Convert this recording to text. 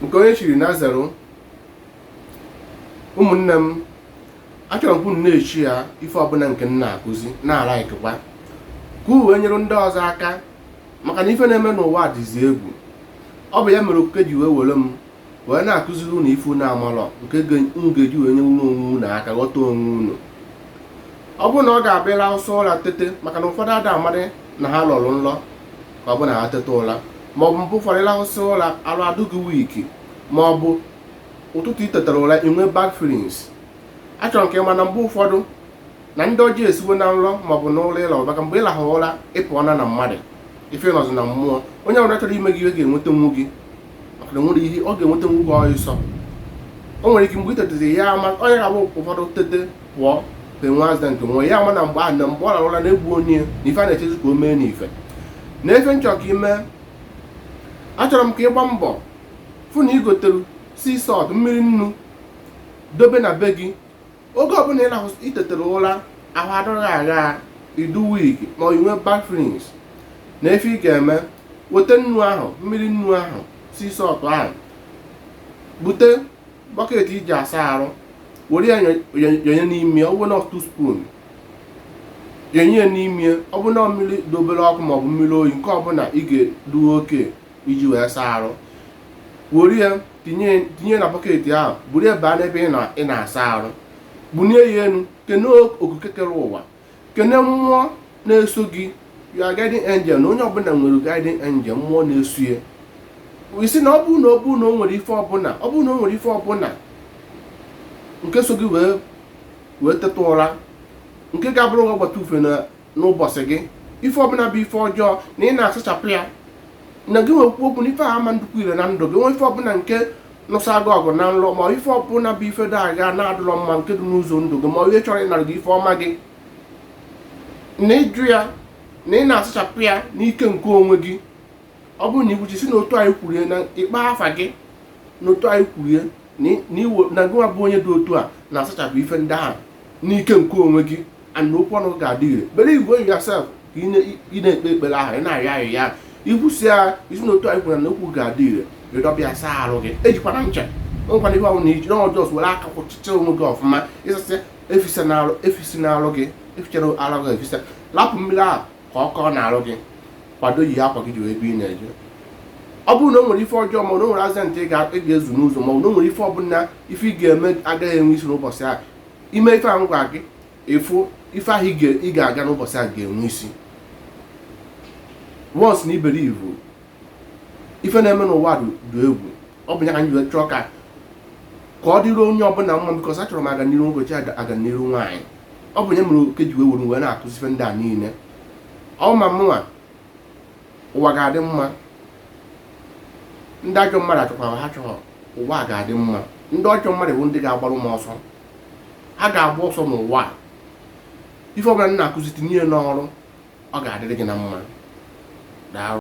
nke onye chiri na zero ụmụnne m achọrọ m ka unu na-eshare ife ọbụla nke m na-akụzi na-alikekwa ka unu wee nyere ndị ọzọ aka maka na ife na-eme n'ụwa dịzi egwu ọ bụ ya mere okike ji wee were m wee na-akụziri unu ife unu amalọ nke unu ga-eji wee nyelụ onwe unu aka ghọta onwe unu ọ bụrụ na gị abịa rahụsị ụra tete maka na ụfọdụ ada amadị na ha lọrọ nlọ ma ọ bụ na ha teta ụra ma ọ bụ mgbe ụfọdụ ị rahụsị ụra arụ adị gị weak ma ọ bụ ụtụtụ i tetara ụra i nwee bad feelings achọrọ m ka ị ma na mgbe ụfọdụ na ndị ọjọọ esiwo na nrọ ma ọ bụ n'ụra ị rahụ maka mgbe ị rahụ ụra ị pụọna na mmadụ ife nọzi na mmụọ onye ọbụla chọrọ ime gị ihe ga-enwetanwu gị maka na nwere ihe ọ ga-enwetanwu gị ọsọ o nwere ike mgbe i tetezi ya ama onye ga-abụ ụfọdụ tete pụọ ka enwe accident nwụọ ya ama na mgbe ahụ na mgbe ọ rarụ ụla na-egbu onye na ife a na-echezi ka o mee n'ife na ife m chọ ka i mee achọrọ m ka ị gbaa mbọ fụ na i gotere sea salt mmiri nnu dobe na be gị oge ọbụla ị lahụ i tetara ụra ahụ adịghị agha ị dị weak ma ọ i nwe bad feelings na ife ị ga-eme weta nnu ahụ mmiri nnu ahụ sea salt ahụ bute bọket i ji asa arụ were ya yọ- yọ- yọnye n'ime ọ bụrụ na two spoon yọnye ya n'ime ọ bụrụ na mmiri dị obere ọkụ maọbụ mmiri oyi nke ọbụla ị ga-adị okay iji wee saa arụ were ya tinye tinye na bọket ahụ buru ya baa n'ebe ị na- ị na-asa arụ bunie ya elu kene okike kere ụwa kene mmụọ na-eso gị your guiding angel na onye ọbụla nwere guiding angel mmụọ na-eso ya i si na ọ bụrụ na ọ bụrụ na o nwere ife ọbụla ọ bụrụ na o nwere ife ọbụla nke so gị wee wee teta ụra nke ga-abụrụ gị ọgbata ufie na n'ụbọchị gị ife ọbụla bụ ife ọjọọ na ị na-asachapụ ya na gịnwa ekwuo okwu na ife a ama adịkwu ire na ndụ gị nwe ife ọbụla nke nụsa gị ọgụ na nlọ ma ife ọbụla bụ ife dị aga na-adịlọ mma nke dị n'ụzọ ndụ gị ma onye chọrọ ịnara gị ife ọma gị na ị jụ ya na ị na-asachapụ ya n'ike nke onwe gị ọ bụrụ na i kwuchaa si na otu anyị kwurie na ị kpọọ afa gị na otu anyị kwurie na gịnwa bụ onye dị otu a na-asachapụ ife ndị ahụ n'ike nke onwe gị and okwu ọnụ ga-adị ire believe in yourself ka ị na-ekpe ekpere ahụ ị na-arịọ arịọ i kwusia i si na otu anyị kwuru na okwu ga-adị ire i dobe ya saa arụ gị ejikwana ncha ejikwana ihe ọbụla iji na ọ just were aka kwọchịchaa onwe gị ọfụma ị sasị efisana arụ efisina arụ gị efichana arụ gị efisa lapụ mmiri ahụ ka ọ kọọ n'arụ gị kwado yi akwa gị jewe ebe ị na-eje ọ bụrụ na o nwere ife ọjọọ ma ọ na o nwere accident ị ga-ezu n'ụzọ ma ọ na o nwere ife ọbụla ife ị ga-eme agaghị enwe isi n'ụbọchị ahụ ime ife a m gwa gị ịfụ ife ahụ ị ga-aga n'ụbọchị a ga-enwe isi once na ị believe ife na-eme n'ụwa dị egwu ọ bụ ya ka anyị ji chọọ ka ka ọ dịrị onye ọbụla mma because achọrọ m aga n'iru nwoke aga n'iru nwaanyị ọ bụ ya mere oke ji wee were wee na-akụzi ife ndị a niile ọ ma mụnwa ụwa ga-adị mma ndị ajọ mmadụ achọkwara ha chọrọ ụwa ga-adị mma ndị ọjọọ mmadụ bụ ndị ga-agbarụ m ọsọ ha ga-agba ọsọ n'ụwa a ife ọbụla m na-akụzi tinye n'ọrụ ọ ga-adịrị gị na mma daalụ